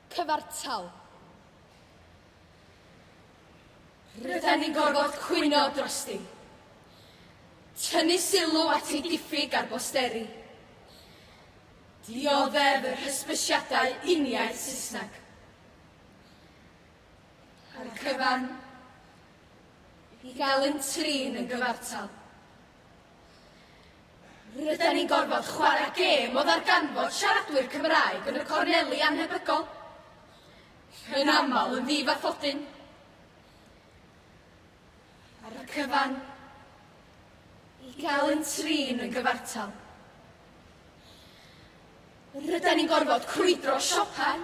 Cyfartal. Rydan ni'n gorfod cwyno drosti. Tynnu sylw at ei diffyg ar bosteri. Dioddef yr hysbysiadau uniaith Saesneg. A'r cyfan i gael yn trin yn gyfartal. Rydan ni'n gorfod chwarae gêm o ddarganfod siaradwyr Cymraeg yn y corneli annhebygol, yn aml yn ddifaffodun. Ar y cyfan, i gael yn trin yn gyfartal. Rydan ni'n gorfod crwydro siopau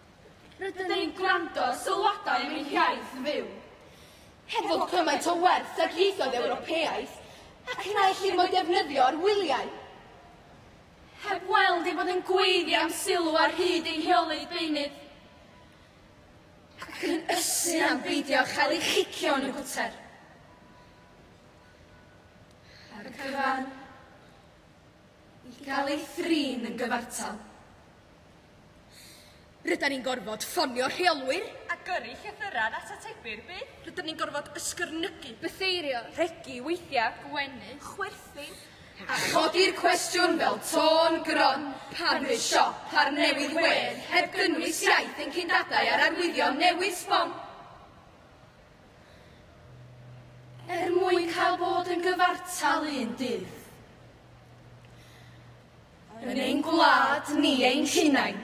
Rydyn ni'n gwrando ar sylwadau am ein hiaith yn fyw. Hefo cymaint o werth ag ieithoedd Ewropeaidd, ac yna ellir mo'i defnyddio ar wyliau. Heb weld ei fod yn gweiddi am sylw ar hyd ei heolydd beunydd. Ac yn ysu am beidio â chael ei chicio yn y gwter. Ar y cyfan, i gael ei thrin yn gyfartal. Rydan ni'n gorfod ffonio rheolwyr. A gyrru llythyrau at atebi'r byd. Rydym ni'n gorfod ysgyrnygu. Bytheirio. Rhegi weithiau. Gwenu. Chwerthin. A chodi'r cwestiwn fel tôn gron pan fydd siop ar newydd wedd heb gynnwys iaith ein cyn-dadau a'r arwyddion newydd sbon. Er mwyn cael bod yn gyfartal un dydd. Yn ein gwlad ni ein hunain.